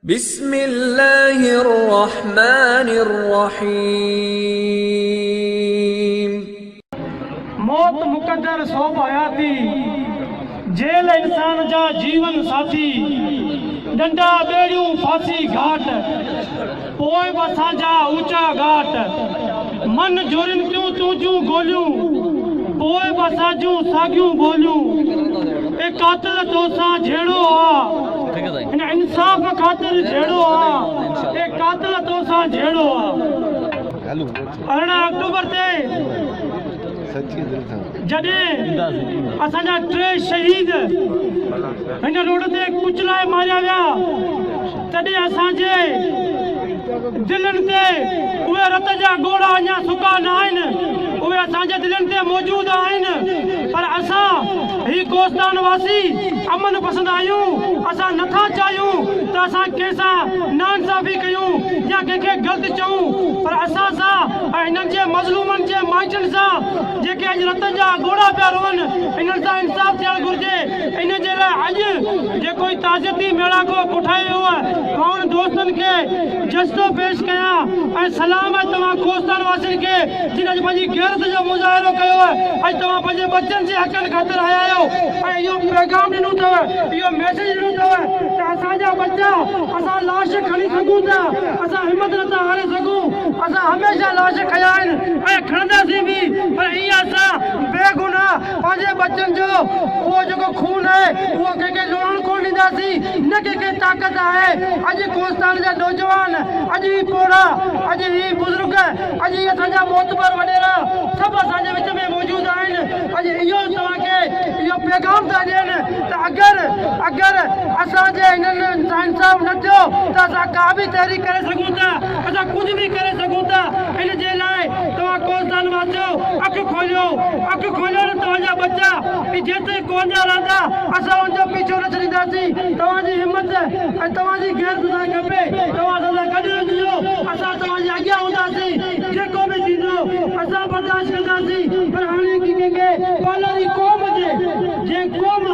بسم الله الرحمٰن الرحيم. موت مقدر سوڀ حياتي، جيل انسان جا جيون ساٿي، ڏنڊا ٻيڙيون ڦاسي گهاٽ. پوء به اسان جا اوچا ڳاٽ. من جورين ٿيون تنهنجون گوليون. پوء به اسان جون ساڳيون ٻوليون. اي قاتل توسان جهيڙو آ. هن انصاف خاطر جهيڙو آ. اي قاتل توسان جهيڙو آ. ارڙهن آڪٽوبر تي. جڏهن اسان جا ٽي شهيد هن روڊ تي ڪچلائي ماريا ويا تڏهن اسان جي دلين تي اهي رت جا ڳوڙها اڃا سڪا نه آهن اهي اسان جي دلين تي موجود آهن پر اسان هي ڪوستان واسي امن پسند آهيون اسان نه ٿا چاهيون ته اسان ڪنهن سان ناانصافي ڪيون يا ڪنهن کي غلط چئون پر اسان سان ۽ هنن جي مظلومن جي مائٽن سان جيڪي اڄ رت جا ڳوڙها پيا روئن انهن سان انصاف ٿيڻ گهرجي ان جي لاء اڄ جيڪو هي تعزيتي ميڙاڪو ڪوٺايو ويو آهي مان انهن دوستن کي جسدو پيش ڪيان ۽ سلام آهي توهان ڪوستان واسين کي جن اڄ پنهنجي غيرت جو مظاهرو ڪيو آهي اڄ توهان پنهنجي ٻچن جي حقن خاطر آيا آهيو ۽ اهو پيغام ڏنو اٿو اهو ميسيج ڏنو اٿو ته اسان جا ٻچا اسان لاش کڻي سگهون ٿا اسان همت نٿا هاري سگهون، اسان هميشه لاش کنيا آهن ۽ کڻنداسين به پر ائين اسان بي گناهه پنهنجي ٻچن جو اهو جيڪو خون آهي اهو ڪنهن کي لوڙهڻ ڪونه ڏينداسين نه ڪنهن کي طاقت آهي اڄ ڪوستان جا نوجوان اڄ هي پوڙها اڄ هي بزرگ اڄ هي اسان جا معتبر وڏيرا سڀ اسان جي وچ ۾ موجود آهن اڄ اهو توهان کي اهو پيغام ٿا ڏين ته اگر اگر اسان جي هنن سان انصاف نه ٿيو ته اسان ڪا به تحريڪ ڪري سگهون ٿا، اسان ڪجهه به ڪري سگهون ٿا، ان جي لاء توهان ڪوهستان واسيو اک کوليو، اک کوليو نه توهان جا ٻچا به جيستائين ڪوهن جا رهندا اسان ان جو پيڇو نه ڇڏينداسين، توهان جي همت ۽ توهان جي غيرت هجڻ کپي، توهان اسان سان گڏ رهجو، اسان توهان جي اڳيان هونداسين، جيڪو به ٿيندو اسان برداشت ڪنداسين، پر هاڻي ڪنهن کي پالاري قوم جي. جي قوم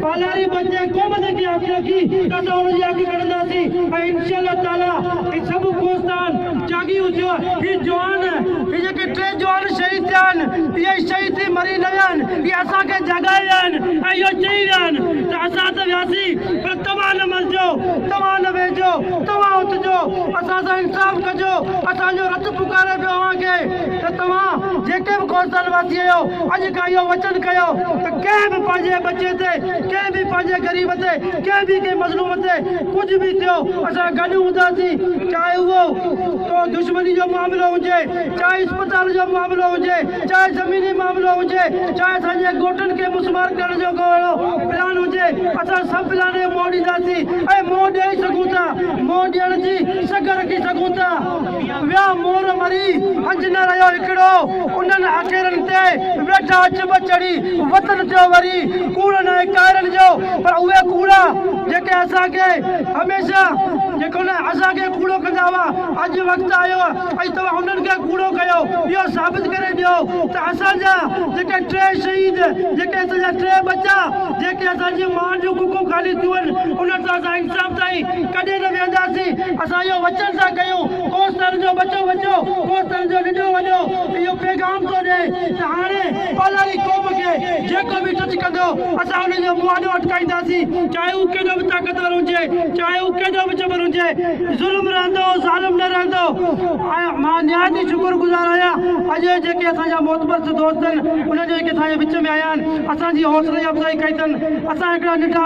پالاري بچي قوم جي ڪي آکيا ڪي ته اسان ان جي آکي ڪڍندا سي ۽ انشاء الله تعالي هي سڀ ڪوستان جاڳي اٿيو هي جوان هي جيڪي ٽي جوان شهيد ٿيا آهن اهي شهيد ٿي مري نه ويا آهن اهي اسان کي جاڳائي ويا آهن ۽ اهو چئي ويا آهن ته اسان ته وياسي پر توهان نه مرجو توهان نه ويهجو توهان اٿجو اسان سان انصاف ڪجو اسان جو رت پڪاري پيو اوهان کي. ته توهان جيڪي به خورسند واسي آهيو اڄ کان اهو وچن ڪيو ته ڪنهن به پنهنجي ٻچي تي ڪنهن به پنهنجي غريب تي ڪنهن به ڪنهن مظلوم تي ڪجهه به ٿيو اسان گڏ هونداسين چاهي اهو ڪو دشمني جو معاملو هجي چاهي اسپتال جو معاملو هجي چاهي زميني معاملو هجي چاهي اسان جي ڳوٺن کي مسمار ڪرڻ جو ڪو اهڙو پلان هجي اسان سڀ پلان موڙينداسين ۽ منهن ڏئي سگهون ٿا منهن ڏيڻ جي سگهه رکي سگهون ٿا. ويا مور مري، هنج نه رهيو هڪڙو، انهن اکيرن تي ويٺا چڀ چڙهي، وطن ٿيو وري، ڪوڙ ناهي ڪائرن جو، پر اهي ڪوڙا جيڪي اسان کي هميشه جيڪو نه اسان کي ڪوڙو ڪندا هئا، اڄ وقت آيو اڄ توهان انهن کي ڪوڙو ڪيو، اهو ثابت ڪري ڏيو ته اسان جا جيڪي ٽي شهيد، جيڪي اسان جا ٽي ٻچا، جيڪي اسان جي مان جون ڪکون خالي ٿيون آهن، انهن سان اسان شام تائين ڪڏهن نه ويهنداسين اسان اهو وچن ٿا ڪيون ڪوس تر جو ٻچو ٻچو ڪوس تر جو ننڍو وڏو اهو پيغام ٿو ڏئي ته هاڻي پالاري قوم کي جيڪو به ٽچ ڪندو اسان ان جو منهن آڏو اٽڪائينداسين چاهي هو ڪيڏو به طاقتور هجي چاهي هو ڪيڏو به جبر هجي ظلم رهندو ظالم نه رهندو ۽ مان نهايت ئي شڪر گذار آهيان اڄ اهي جيڪي اسان جا محتبر سڌو دوست آهن انهن جو جيڪي اسان جي وچ ۾ آيا آهن اسان جي حوصلي افزائي ڪئي اٿن اسان هڪڙا ننڍا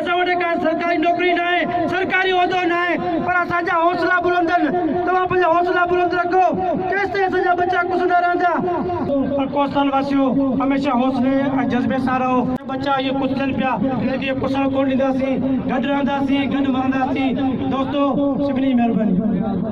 توهان وٽ ڪا سرڪاري نوڪري ناهي، سرڪاري عهدو ناهي، پر اسان جا حوصلا بلند آهن. توهان پنهنجا حوصلا بلند رکو، تيستائين اسان جا ٻچا ڪسندا رهندا. پر ڪوستان واسيو، هميشه حوصلي ۽ جذبي سان رهو. ٻچا اهي ڪسجن پيا، انهن کي ڪسڻ ڪونه ڏينداسين. گڏ رهنداسين، گڏ مرنداسين. دوستو، سڀني جي مهرباني.